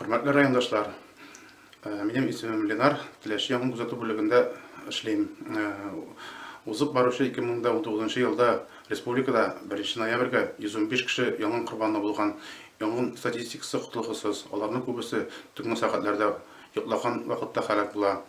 Хөрмәтле райондашлар, э, минем исемем Ленар, Теләче яңгын күзәтү бүлегендә эшлим. Э, узып баручы 2019 елда республикада 1 ноябрьгә 115 кеше яңгын корбаны булган. Яңгын статистикасы котлыгысыз. Аларның күбесе төнге сәгатьләрдә йоклаган вакытта халәк була.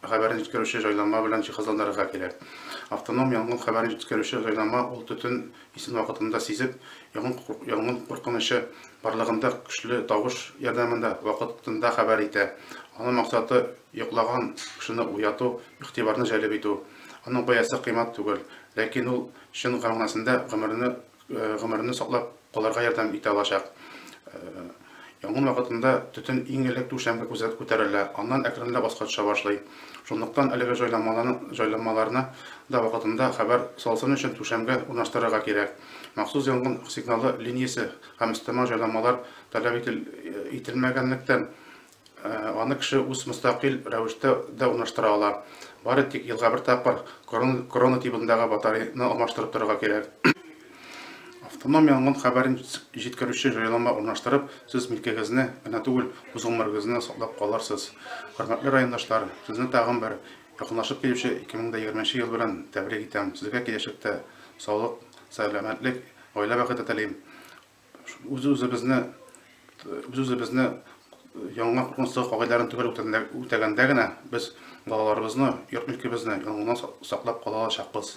Хәбәрне җиткерүче җайланма белән җиһазландырырга кирәк. Автоном янгын хәбәрен җиткерүче җайланма ул төтен исен вакытында сизеп, янгын куркынычы барлыгында көчле тавыш ярдәмендә вакытында хәбәр итә. Аның максаты, йоклаган кешене уяту, игътибарны җәлеп итү. Аның бәясе кыйммәт түгел, ләкин ул чын мәгънәсендә гомерне гомерне саклап калырга ярдәм итә алачак. Янгын вакытында төтен иң элек түшәмгә күзәт күтәрелә, аннан әкренләп аска төшә башлый. Шунлыктан әлеге җайланмаларны да вакытында хәбәр салсын өчен түшәмгә урнаштырырга кирәк. Махсус янгын сигналы линиясе һәм өстәмә җайланмалар таләп ителмәгәнлектән, Аны кеше үз мөстәкыйль рәвештә дә урнаштыра ала. Бары тик елга бер тапкыр корона тибындагы батарейны алмаштырып торырга кирәк. Автоном янгын хәбәрен җиткерүче җайланма урнаштырып, сез милкегезне генә түгел, үз гомерегезне саклап калырсыз. Хөрмәтле райондашлар, сезне тагын бер якынлашып килүче 2020 ел белән тәбрик итәм. Сезгә киләчәктә саулык, сәламәтлек, гаилә бәхете телим. Үз-үзебезне үз-үзебезне яңа куркынычлы кагыйдәләрен төгәл үтәгәндә генә без балаларыбызны, йорт-милкебезне янгыннан саклап кала алачакбыз.